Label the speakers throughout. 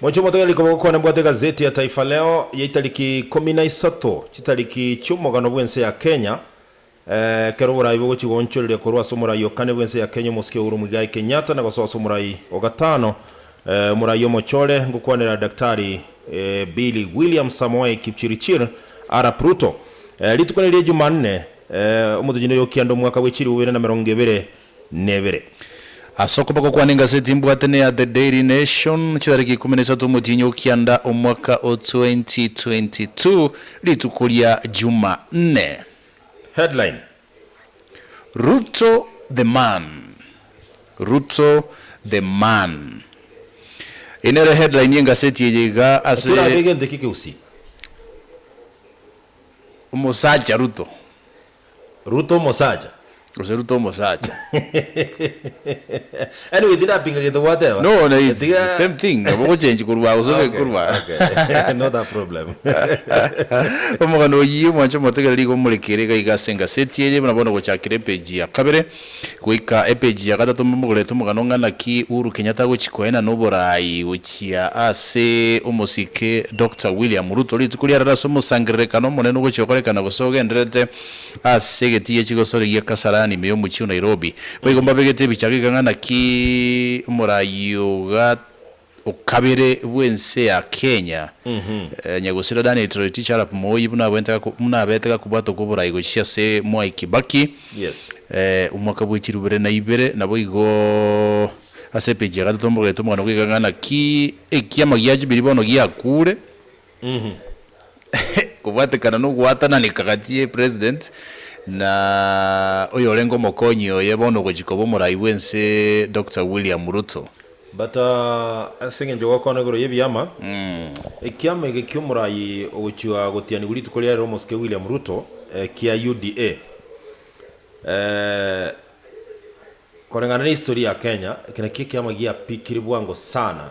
Speaker 1: Moche omotogia riko
Speaker 2: bagokwana mbwate egazeti ya Taifa Leo yaitariki ikomi na isato chitariki chi'omogano bw'ense ya Kenya ekero oboraai bogochia goonchoreria korwa ase omoraai o kane bw'ense ya Kenya omosike Uhuru Muigai Kenyatta na gosoa ase omoraai o gatano omoraai omochore ngokwanera Daktari Billy William Samoei Kipchirichir Arap Ruto rituko ne ria Jumanne omotogia noyokianda omwaka bw'echiribu bibere na merongo ebere nebere.
Speaker 1: Ase okoba gokwana engaseti mbwate ne ya The Daily Nation, chitariki ikomi na isato omotienyi o kianda omwaka o 2022, rituko ria Jumanne. Headline,
Speaker 2: Ruto
Speaker 1: the man Ruto the man Eye nere headline y'engaseti eye iga Ase ase. orabe egento eke geusie. Omosacha Ruto
Speaker 2: Ruto omosacha. Gose Ruto omosacha. Anyway, tindapinga gento gwateba. No, no, it's Tiga- the same
Speaker 1: thing. Nabo ogochenchi korwa gose Okay, ogekorwa. okay. Not a
Speaker 2: problem.
Speaker 1: Omogano oyio mwanche motegereri igo morekere iga iga ase engaseti eye buna bono gochakire epage ya kabere. Goika epeji ya gatato mbamogorere omogano ng'a naki Uhuru Kenyatta agochia koenana oboraai gochia ase omosike Doctor William Ruto rituko riarero ase omosangererekano omonene ogochia gokorekana gose ogendererete ase egetigiri ya chigosori gia Kasarani ime y'omochie o Nairobi. Boigo mbabegete ebichaka iga ng'a naki omoraai oga okabere bw'ense ya Kenya, Nyagosira Daniel Toroitich arap Moi buna abete gakobwatwa kw'oborai gochia ase Mwai Kibaki
Speaker 2: omwaka bwe
Speaker 1: chirubere na ibere. Naboigo ase epeji ya gatato mbogetie omogano bweka ng'a naki ekiama gia Jubilee bono giakure. Kobwatekana nogwatananeka gati ye President na oyorenge omokonyi oye bono ogochia koba omorai bw'ense Doctor William Ruto. But
Speaker 2: ase engencho gokoana igoro y'ebiama, ekiama eke ki'omorai ogochia gotianigwa rituko riarire omosike William Ruto kia UDA, koreng'ana na history ya Kenya, eke nakio ekiama giapikire bwango sana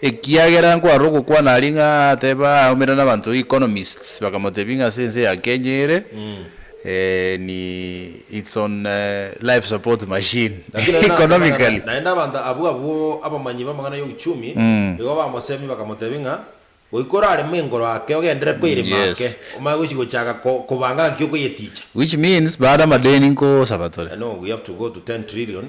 Speaker 1: Ekiagera nkwarora ogokwana aria ng'a ateba aumera nabanto economists bakamotebia ng'a ase ense ya Kenya ere ni its on life support machine Lakini aye nateba ng'a economically. naende abanto abwo
Speaker 2: abwo abamanyi b'amang'ana y'euchumi nigo bamosemia bakamotebia ng'a goika orareme enkoro ake ogendere kweirima Yes. ake omanye gochi gochaka ko kobanga ng'aki okoyeticha. Which means baare
Speaker 1: amadeni nkosaba tore. I know we have to go to
Speaker 2: 10 trillion.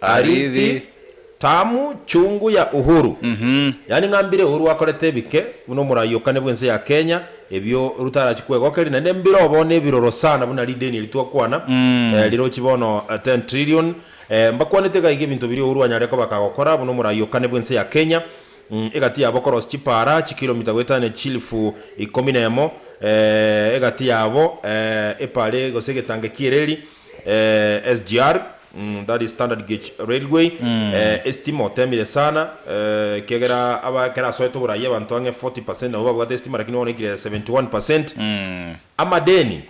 Speaker 1: Arithi, Tamu,
Speaker 2: Chungu ya Uhuru. Yaani ng'a mbire Uhuru akorete ebike buna omoraiokani bw'ense ya Kenya, ebio rutarachi kwegokeri naende mbire obo nebiroro sana buna rideni eri twakwana rirochi bono ten trillion. Mbakwanete iga iga ebinto biria Uhuru anyare koba kagokora buna omoraiokani bw'ense ya Kenya, egati yabo korosi chipaara chikiromita goetania chilifu ikomi nemo egati yabo epaara gose egetangi ekiireri. SGR, that is Standard Gauge Railway, estima otemire sana ekiagera aba ekero asoete oborayi abanto ang'e 40 percent nabo babwate estima lakini bono eikire 71 percent. Amadeni,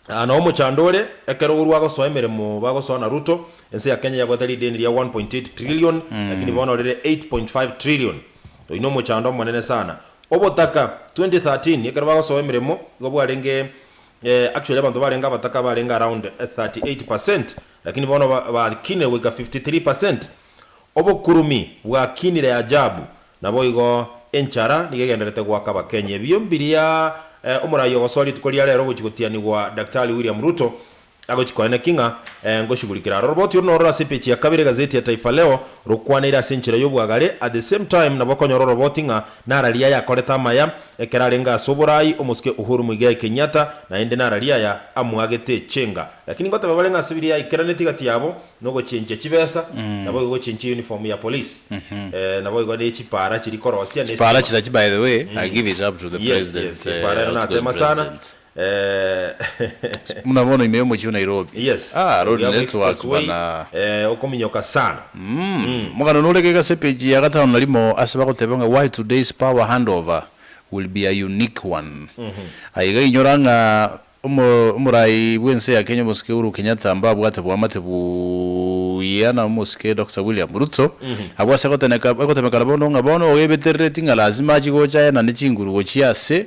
Speaker 2: Aa nabo omochando ore, ekero orwa agosoa emeremo bagosoa na Ruto, ense ya Kenya yabwate rideni ria 1.8 trillion lakini bono rire 8.5 trillion. Oyio nomochando omonene sana. Obotaka, 2013 ekero bagosoa emeremo igo bwarenge eh, actually abanto barenge abataka barenge around 38 per cent, lakini bono ba, bakinire goika 53 per cent. Obokurumi bwakinire ajabu, naboigo enchara nigo egenderete goaka Abakenya. Ebio mbiria eh, omorai ogosoa rituko ria rero ogochi gotianigwa Daktari William Ruto agochi koena ki ng'a eh, ngoshigurikera aroro. Riboti oro nororo ase epeji ya kabere egazeti ya Taifa Leo rokwanaire ase enchera y'obwagare, at the same time nabo okonyora oroboti ng'a nara riaye akorete amaya Ekero arenge ase oboraai omosike Uhuru Muigai Kenyatta naende nararie aya amwagete chenga. Lakini ngoteba barenge ase biria yaikeraneti gati yabo nogochenchia chibesa naboigo gochenchia uniform ya police naboigo ne chipara chiri korosia ne Chipara estima. chira by the
Speaker 1: way I give it up to the Yes, yes, president epara ero outgoing natema
Speaker 2: sana. president. Eeh.
Speaker 1: Buna bono ime omochie o Nairobi. Yes. Ah, road Oria bwa network express way, bana. eeh, okominyoka
Speaker 2: sana. Umm. Omogano
Speaker 1: nore gega ase page ya gatano na rimo ase bagoteba ng'a why today's power handover will be a unique one. Aye iga inyora ng'a omo omorai bw'ense ya Kenya omosike Uhuru Kenyatta mbabwate boamate buya na omosike Doctor William Ruto abwo ase goteneka egotemekana bono ng'a bono ogo ebeterereti ng'a lazima achi gocha aye na ne chinguru gochia ase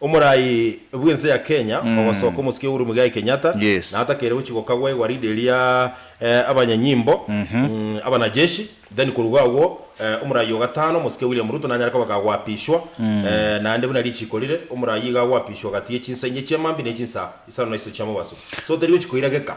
Speaker 2: Omorai bw'ense ya Kenya ogosoka omosike Uhuru Muigai Kenyatta natakeire gochia gokagwa egwaride eria abanyanyimbo, abanajeshi, then koruga agwo omorai o gatano omosike William Ruto nanyare kobeka agoapishwa naende buna richiiko rire omorai iga agoapishwa gati ye chinsa inye chi'amambia ne chinsa isano na isatu chiamobaso. So teri gochia koirageka.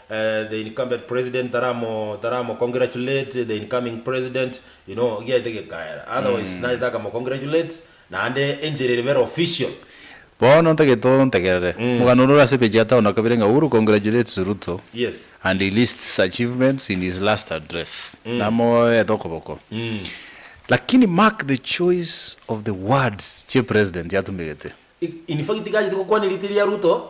Speaker 2: The incumbent president taramo taramo congratulate the incoming president you know giaete gekaera otherwise naete akamo congratulate naende enchera ere bera official. Bono
Speaker 1: ntagete ontegerere. Omogano ore ore ase page ya tano na kabere ng'a Uhuru congratulates Ruto Yes. and he
Speaker 2: lists
Speaker 1: achievements in his last address. Namoete okoboko. Lakini mark the choice of the words chie president atumegete. Infact tachete
Speaker 2: gokwana erite ria Ruto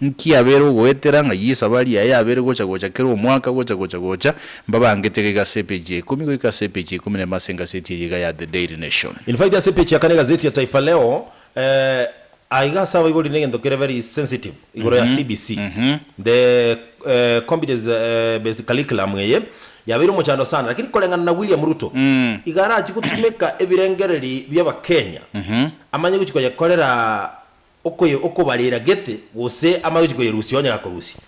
Speaker 1: Nki abere ogoetera ng'a Yeso abari aye abere gocha gocha kera omwaka gocha gocha gocha mbabangete gaiga ase epeji ya ikomi goika ase epeji ya ikomi na emo ase engaseti eye iga ya The Daily Nation. In fact ase epeji ya kane
Speaker 2: egazeti ya Taifa Leo eh, aiga ase abaibori negento kere very sensitive igoro ya CBC, the eh, competence eh, based curriculum eye yabeire omochando sana lakini koreng'ana na William Ruto iga arachie gotumeka ebirengereri bia Abakenya amanye gochia koyekorera okoye okobarera gete gose amagechi koyerusia onye gakorusia.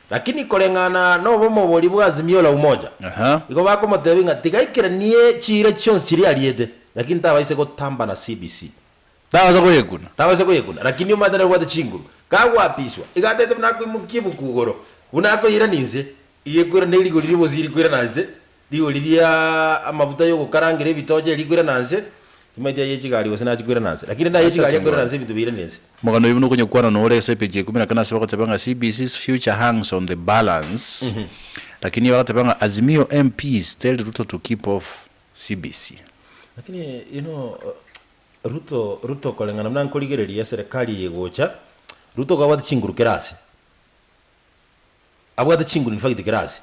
Speaker 2: Lakini koreng'ana nobomo boria bwa Azimio la Umoja, igo bakomotebia ng'a tigaikeranie chiira chionsi chiria ariete, lakini tabaise gotamba na CBC. Tabaisa koyekuna. Tabaisa koyekuna, lakini omanyete nobwate chinguru. Kagoapiswa, iga atete buna akoimokia ebuku igoro, buna akoirana inse, iga ekoirana nerigo riria bosi rikoirana inse, Rigori ria amafuta y'ogokarangera ebitocha eria ikwirana nse, timaeti ay'e chigari gose nachi kwirana nse, lakini naye chigari akwirana nse ebinto biirane nse. Omoganda oyomo nokonyekwana
Speaker 1: noore ase epage ya ikume na kane ase bagoteba ng'a CBC's future hangs on the balance lakini iye bagateba ng'a Azimio MPs tell Ruto to keep off CBC. Lakini
Speaker 2: you know Ruto Ruto koreng'ana buna nkorigereria serikali eye egocha, Ruto kaba abwate chinguru kera ase. Abwate chinguru in fact class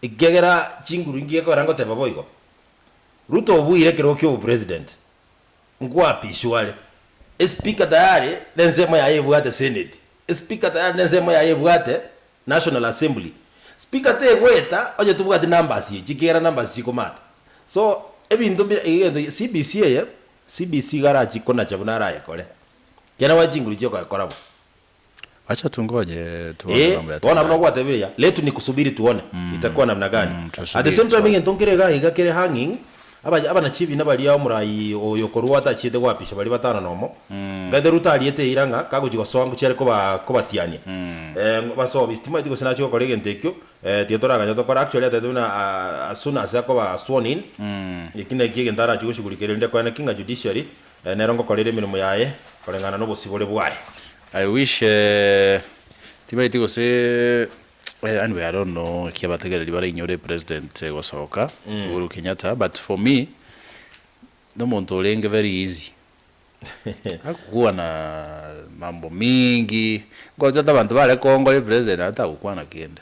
Speaker 2: ekiagera chinguru inki gekoera ngoteba boigo. Ruto obuire ekero kia obo president nkoapiswa are e speaker tayari ne ensemo yaye ebwate senate e speaker tayari ne ensemo yaye ebwate national assembly speaker tegoeta onye tobwati numbers echi ekiagera numbers chikomata so ebinto mbire iga egento CBC eye CBC iga arachi konacha buna arayekore ekiagera nabae chinguru chiokoyekora bo Acha
Speaker 1: tungoje tuone Ee, mambo bono abuna yatendeka. gwatebireria,
Speaker 2: let ni kusubiri tuone itakuwa namna gani. mm, At the tusubiri same time tuone. egento nkere iga iga kere hanging, aba abana chiebina baria omorai oyo okorua atachiete goapisha baria batano nomo, ng'aete Ruto ariete eira ng'a kagochi gosoa ngochia are koba kobatiania. Eh, basoe bisitimati gose nache gokora egento ekio, eh, tiga toraganye tokore. Actually ataete buna ah, as soon as akoba sworn in, eki naki egento arachie goshughulikia rende kwene ki ng'a judiciary Ee, nero ngokorera emeremo yaye koreng'ana nobosibore bwaye. I wish
Speaker 1: tibaeti gose yaani we I don't know ekia batagereri bare inyore president gosoka Uhuru Kenyatta but for me nomonto orenge very easy agokwana mambo mingi ngocha ata abanto bare Congo ore president ata agokwana kende.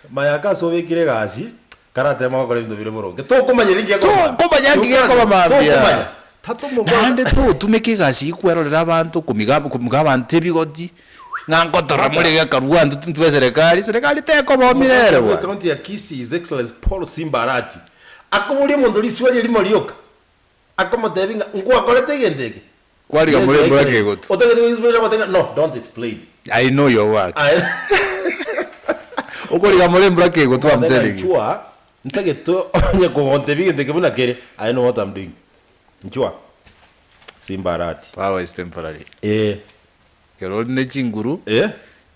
Speaker 1: Mayaka
Speaker 2: ase obekire egasi karateema gokora ebinto bire boronge. Tokomanya ninki gekoba mambia. Tokomanya ninki gekoba
Speaker 1: mambia. Tokomanya. Tatomokora. Naende totumeka egasi eyio kwerorera abanto, komiga komiga abanto ebigoti, ng'a ngotora more gekarua abanto tintwe eserekari. Eserekari tekoba oo Omogwekano mirere bwe bwane. County ya Kisii, His
Speaker 2: Excellency Paul Simba Arati, akoboria omonto risuali erimo rioka, akomotebia ng'a, Nkwakorete egento eke? Kwariga
Speaker 1: Yes, your morembe Excellency. bw'ekegotu.
Speaker 2: Otagete koexplaina gote ng'a, No, don't explain. I know your work.
Speaker 1: Aye. Okoriga morembe bw'ekegotu, I'm Omogote ng'a, telling you. Inchuwa, ntagete
Speaker 2: onye kogontebia egento eke buna kere. I know what I'm doing. Inchuwa. Simba alert. Power is
Speaker 1: temporary. Ee. Ekero ore ne chinguru, Ee.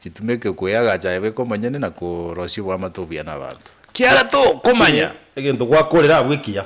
Speaker 1: chitumeke kweyagacha aye bweka omonyene na korosia oboamate obuya na abanto. Kiagera tokomanya. Egento gwakorera
Speaker 2: abwo ekiya.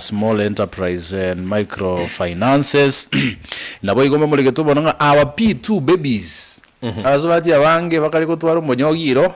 Speaker 1: Small Enterprise and Micro Finances, Naboigo mbamoregetwe bono ng'a our P2 babies, abasubati abange bakare gotwara omonyogi iro,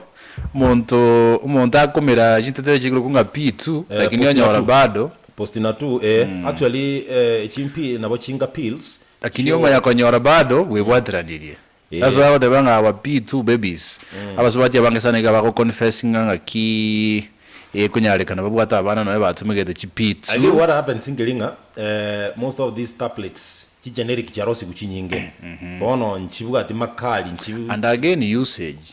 Speaker 1: omonto omonto akomera chintetero echiaigoro okwo ng'a P2, Eh, lakini postina onyora tu. bado, Postina tu, eh,
Speaker 2: actually, eh, chimpi nabo chinga pills, lakini chio- omanya konyora
Speaker 1: bado bwebwateranirie. That's why agoteba ng'a our P2 babies, abasubati aba abange sana iga bago confessinga ng'aki ekonyarekana babwate abana nonya batomegete chi P2. Agio what happens nkeri
Speaker 2: ng'a most of these tablets chi generic chiarosigwe chinyinge bono nchibwati makali nchi. And again usage.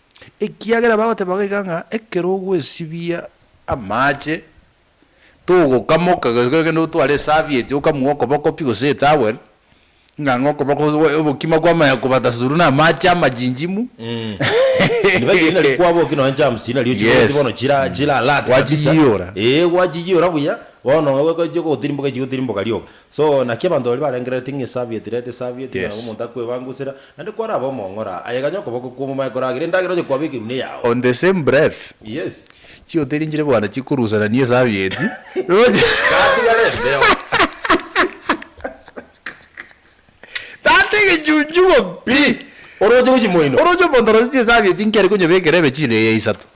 Speaker 2: Ekiagera
Speaker 1: bagoteba goika ng'a ekero ogwesibia amaache, togokamoka gose ekero ogende gotwara esavieti okamue okoboko pi gose etowel, ng'a ng'a okoboko obo obokima kwamanya kobata suru na amaache amajinjimu. Ribaga
Speaker 2: erio nari kwaboki nonye germs chiria nari ochikoreti bono Yes. chira chira alert kabisa. Gwachiyiyora. Eeh
Speaker 1: gwachiyiyora buya,
Speaker 2: bono ogochia gotirimboka echi gotirimboka rioka. So, naki abanto baria barengereretie ng'a esabi etireti esabi etireti nabo Yes. omonto akwebangusera, naende kwarabe omong'ora, aye ganye okoboko kw'omomaye koragere endagera oye kwabeke eunwa yao. On the same breath,
Speaker 1: Yes.
Speaker 2: chihoteri nchire
Speaker 1: bwana chikorusanania esabi eti, roche Gatigare embeo. Tata egechunchugo pi! Oroche gochia moino.
Speaker 2: Oroche omonto orosetie esabi
Speaker 1: eti nkeri konyebekera ebechire eye isato.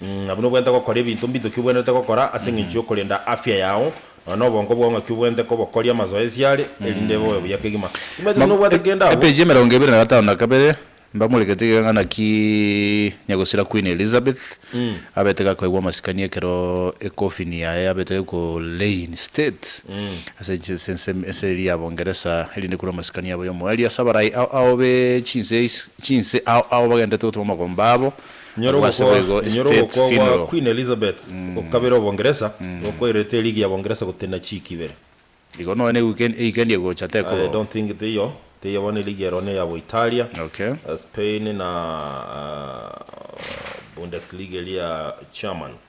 Speaker 2: Nabuna obwenerete gokora ebinto mbito ki obwenerete gokora ase engencho y'okorenda afya yao, nonya nobongo bwao ng'aki obwenerete kobokoria amazoezi are, erinde ebe obe buya kegima. Timanyete buna obwate kende agwo. Epeji emerongo ebere na gatano
Speaker 1: na kabere, Mbamorekete iga ng'a naki nyagosira Queen Elizabeth abete gakoegwa amasikani ekero ekofini yaye yabete Colane State ase ense ense ense eria ya Bongeresa erinde korwa amasikani yabo y'omoerio ase abarai ao ao be chinse ais chinse ao ao bagenderete gotoma amagomba abo Inyora Barabwo ase ogokwa
Speaker 2: boigo inyora estate ogokwa gwa funeral. Queen Elizabeth o kabere o Bongeresa, gokwairerete eligi ya Bongeresa gotenena chiiki ibere. Igo noe ne
Speaker 1: weekend eikendi egocha I tekobao. don't think teiyo,
Speaker 2: teiyo bono eligi ero ne ya Boitalia, Okay. Spain
Speaker 1: na
Speaker 2: Bundesliga eria German.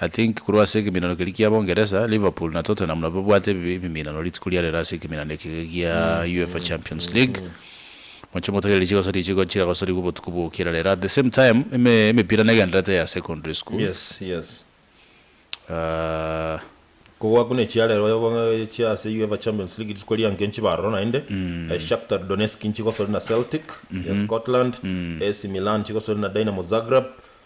Speaker 1: I think korwa ase ekeminano keria kia Bongeresa, Liverpool na Tottenham nabo babwate ebiminano rituko ria rero ase ekeminano eke gia UEFA Champions League. Moche motegerere chigosoria echigo chigagosorigwe obotuko bwa gokira rero. At the same time, ime emepira negendererete ya secondary schools. Yes, yes.
Speaker 2: Aah. Kogwa buna echiarero oyoboe chia ase UEFA Champions League rituko ria enke nchibe aroro naende. Shakhtar Donetsk nchigosore na Celtic ya Scotland. AC Milan nchigosore na Dynamo Zagreb.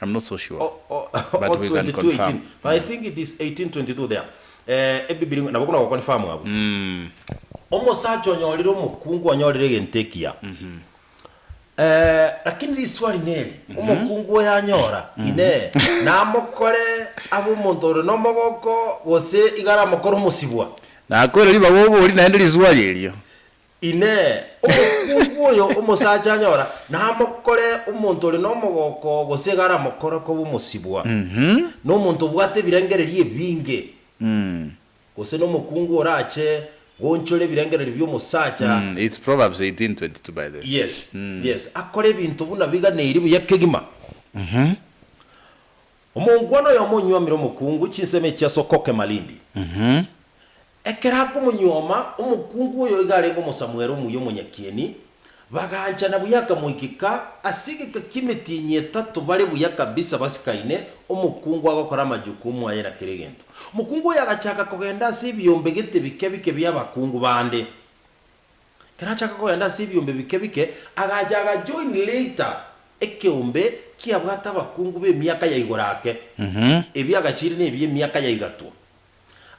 Speaker 2: I'm not so sure
Speaker 1: but
Speaker 2: we can confirm. I think it is 1822 there Ebibilia nabo buna goconfirm abwo. Omosacha onyorire omokungu onyorire egento ekiya lakini riswali neri omokungu oyo anyora inee namokore abe omonto ore nomogoko gose iga aramokore omosibwa? Nakoira ribaga
Speaker 1: obori naende riswali erio. Inee!
Speaker 2: Omokuugu oyo omosacha anyora namokore omonto ore nomogooko gose iga aramokore koba omosibwa? Nomonto obwate ebirengererio ebinge, gose nomokuungu orache goonchora ebirengererio bi'omosacha?
Speaker 1: Yes, yes,
Speaker 2: akore ebinto buna biganeiri buya kegima. Omongwana oyomo onywamire omokuungu chinsemo echi ase okokema rindi. Ekero akomonyuoma, omokungu oyo iga arenge omosamuero omuya omonyakieni, bagaanchana buya akamoigeka ase egeka ki'emetienyi etato bare buya kabisa basikaine, omokungu agokora amajukumu aye na kera egento. Omokungu oyo agachaka kogenda ase ebiombe gete bike bike bi'abakungu bande. Ekero achaka kogenda ase ebiombe bike bike, agacha agajoin Leita, ekeombe kiabwate abakungu b'emiaka ya igoro ake, ebi agachiria nebi emiaka ya igatwa.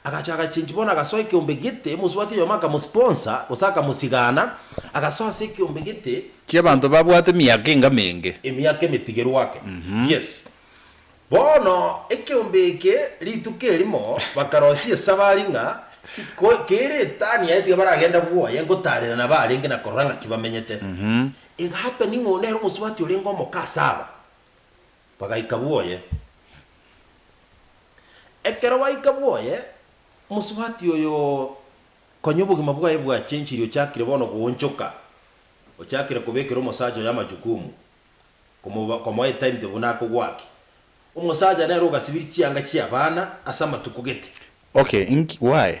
Speaker 2: Agacha agachenchi bono agasoa ekeombe gete, mosubati oyomo akamosponsor, gose akamosigana, agasoa ase ekeombe gete. Chi'abanto babwate
Speaker 1: emiaka enga menge. Emiaka emetigeru
Speaker 2: ake. Yes. Bono ekeombe eke rituko erimo bakarosia esabari ng'a ko kere etani yaye tiga baragenda bwoye gotaarera nabarenge na korora ng'aki bamenyete. Egahappen ng'a oyo nere omosubati orenge omoke ase aba. Bagaika bwoye. Ekero baika bwoye, mosubati oyo konya obogima bwaye bwachenchiri ochakire bono goonchoka, ochakire kobekera omosacha oyo amachukumu, komoba komoa etimetable buna akogwaki. Omosacha nere ogasibiri chianga chi'abana ase amatuko gete. Okay, inki,
Speaker 1: why?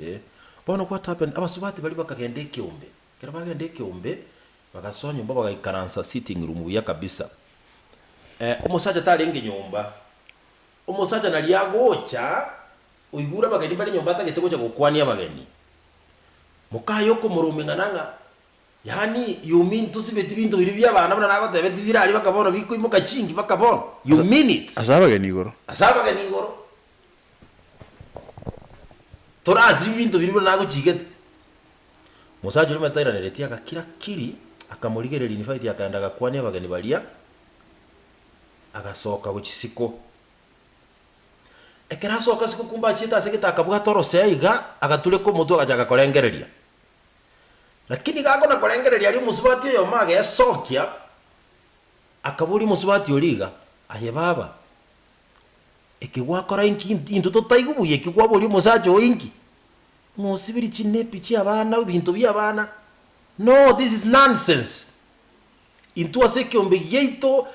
Speaker 2: Ee. Bono what happened? Abasubati baria bakagenda ekeombe. Ekero bagenda ekeombe, bagasoa nyomba bagaikaransa sitting room buya kabisa. Eh, omosacha tarenge nyomba. Omosacha nari agocha, oigure abageni mbare nyomba atagete gocha gokwania abageni. Mokaye okomoromia ng'a nang'a, yaani, you mean tosibeti binto biria bia abana buna nagotebe tibira aria baka bono bikoimoka chingi baka bono? You mean it? Ase abageni igoro. Ase
Speaker 1: abageni igoro.
Speaker 2: Tore ase ebinto biria buna nagochigete. Omosacha oria ometairaneritie agakira kiri, akamorigereria Nifaiti akaenda agakwania abageni baria, agasoka go chisiko. Ekero asoka ase gokumba achiete ase egete akabwata orosea iga, agatureka omotwe agachaka korengereria. Lakini iga akona korengereria aria omosubati oyomo agesokia, akaboria omosubati oria iga, Aye baba, Eke gwakora inki? Intwe totaigwe buya eki kwaboria omosacha oyo inki? Ng'a osibirie chinepi chi'abana, ebinto bi'abana? No, this is nonsense. Intwe ase ekeombe giaito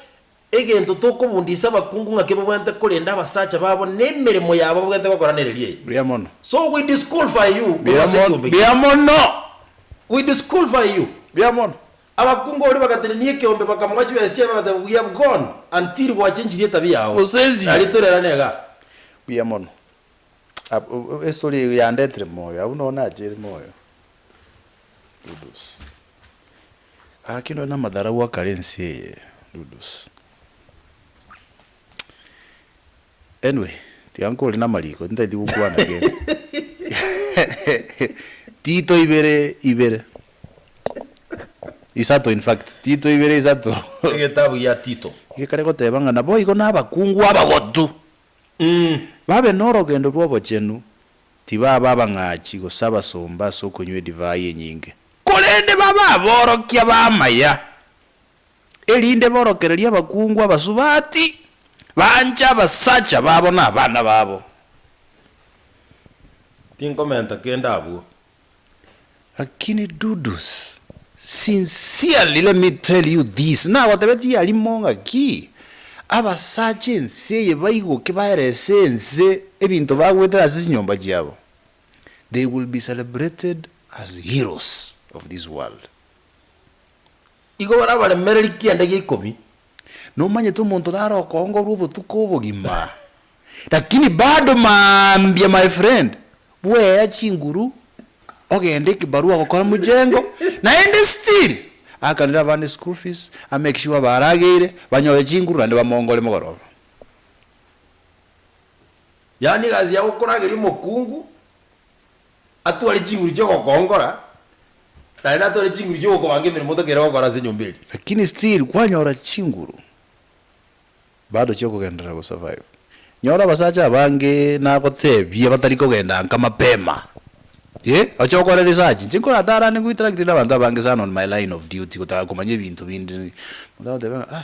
Speaker 2: egento tokobundia ase abakungu ng'a kebabwenerete korenda abasacha babo na emeremo yabo babwenerete gokora nereria eye. Buya mono. So
Speaker 1: we disqualify
Speaker 2: you korwa Buya ase mono.
Speaker 1: ekeombe
Speaker 2: Buya giaito. mono. We disqualify you. Buya mono.
Speaker 1: Abakungu baria
Speaker 2: bagatenenia ekeombe, bakamoga chibesa chiaye, bagateba, We have gone until gwachenchirie etabia yao. Mosesio. Nario torerane
Speaker 1: iga.
Speaker 2: Buya mono.
Speaker 1: Estory eye yandetire moyo, abwo nonya nachire moyo. Dudus. Gaki nore namatharau akare ense eye, Dudus. Anyway, tiga nkore namariko, ntaeti gokwana kende. Tito ibere ibere isato in fact, Tito
Speaker 2: ibere
Speaker 1: isato. Egetabu
Speaker 2: gia
Speaker 1: Tito. Gekare goteba ng'a naboigo nabakungu abagotu, babe norogendo rw'obochenu, tibabe abang'achi, gose abasomba ase okonywa edivai enyinge, korende babe aborokia b'amaya, erinde borokererie abakungu abasubati, banche abasacha babo na abana babo.
Speaker 2: Tinkomenta kende abwo.
Speaker 1: Lakini Dudus, sincerely let me tell you this, nagotebetie yarimo ng'aki, abasacha ense eye baigoke baerese ense ebinto bagwete ase chinyomba chiabo, they will be celebrated as heroes of this world.
Speaker 2: Igo barabaremereria kianda gia ikomi. Nomanyete
Speaker 1: omonto naro okoongorwa obotuko obogima. Lakini bado mambia my friend, bwea chinguru ogende ekibarua gokora mujengo naende still akanire abana eschool fees, a make sure barageire, banyore chinguru naende bamongore mogoroba.
Speaker 2: Yaani egasi ya gokorageria omokungu. atware chinguru chi'ogokongora, naende atware chinguru chi'ogokobanga emeremo tokeire gokora ase enyomba eria. Lakini still
Speaker 1: kwanyora chinguru bado chiokogenderera go survive. Nyora abasacha abange nagotebie batari kogenda anka mapema. Eeh oche okore research. Inche nkoratarane gointeract nabanto abange sana on my line of duty gotaka komanya ebinto binde. Omonto agoteba ng'a ah.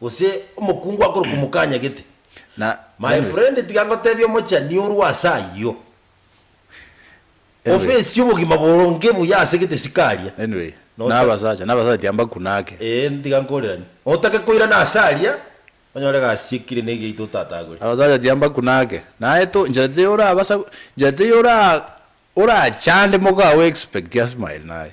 Speaker 2: gose omokungu akorokwa Omokanya gete. Na My anyway,
Speaker 1: friend tiga
Speaker 2: ngotebie omochani orwa ase ayio. Anyway. Ofesi y'obogima boronge buya ase gete sikaria. anyway, Na na ota-
Speaker 1: abasacha, na abasacha tiambakunake. Ee, tiga nkoreranie.
Speaker 2: Otake koirana ase aria, onyore egasi chiekire na egiaito otatagore. Abasacha tiambakunake.
Speaker 1: Naye to, inchera teri orabasa, inchera teri ora, orachande moka ago expect asmile naye.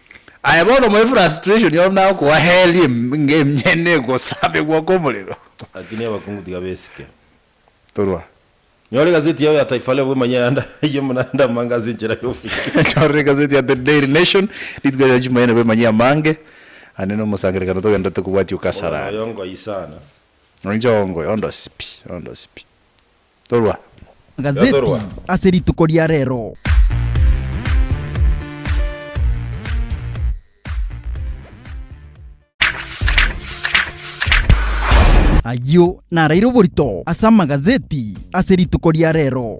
Speaker 1: Aye bono my frustration oro nagokoa hell emyene egosabegwa komorero. Lakini abakungu
Speaker 2: tiga besike. Torwa.
Speaker 1: Nyora
Speaker 2: egazeti yao ya Taifa Leo bwemanye ayande ayio buna ande amange ase enchera y'oboibi. Nyora egazeti
Speaker 1: ya The Daily Nation rituko ria Jumaine bwemanye amange ande na omosangererekano togenderete kobwatia o Kasarani. Oyoongo aye sana.
Speaker 2: Inche oongo
Speaker 1: oyo, ondosie pi, ondosie pi. Torwa. Magazeti
Speaker 3: ase rituko ria rero. Ayio naraire oborito ase amagazeti ase rituko ria rero.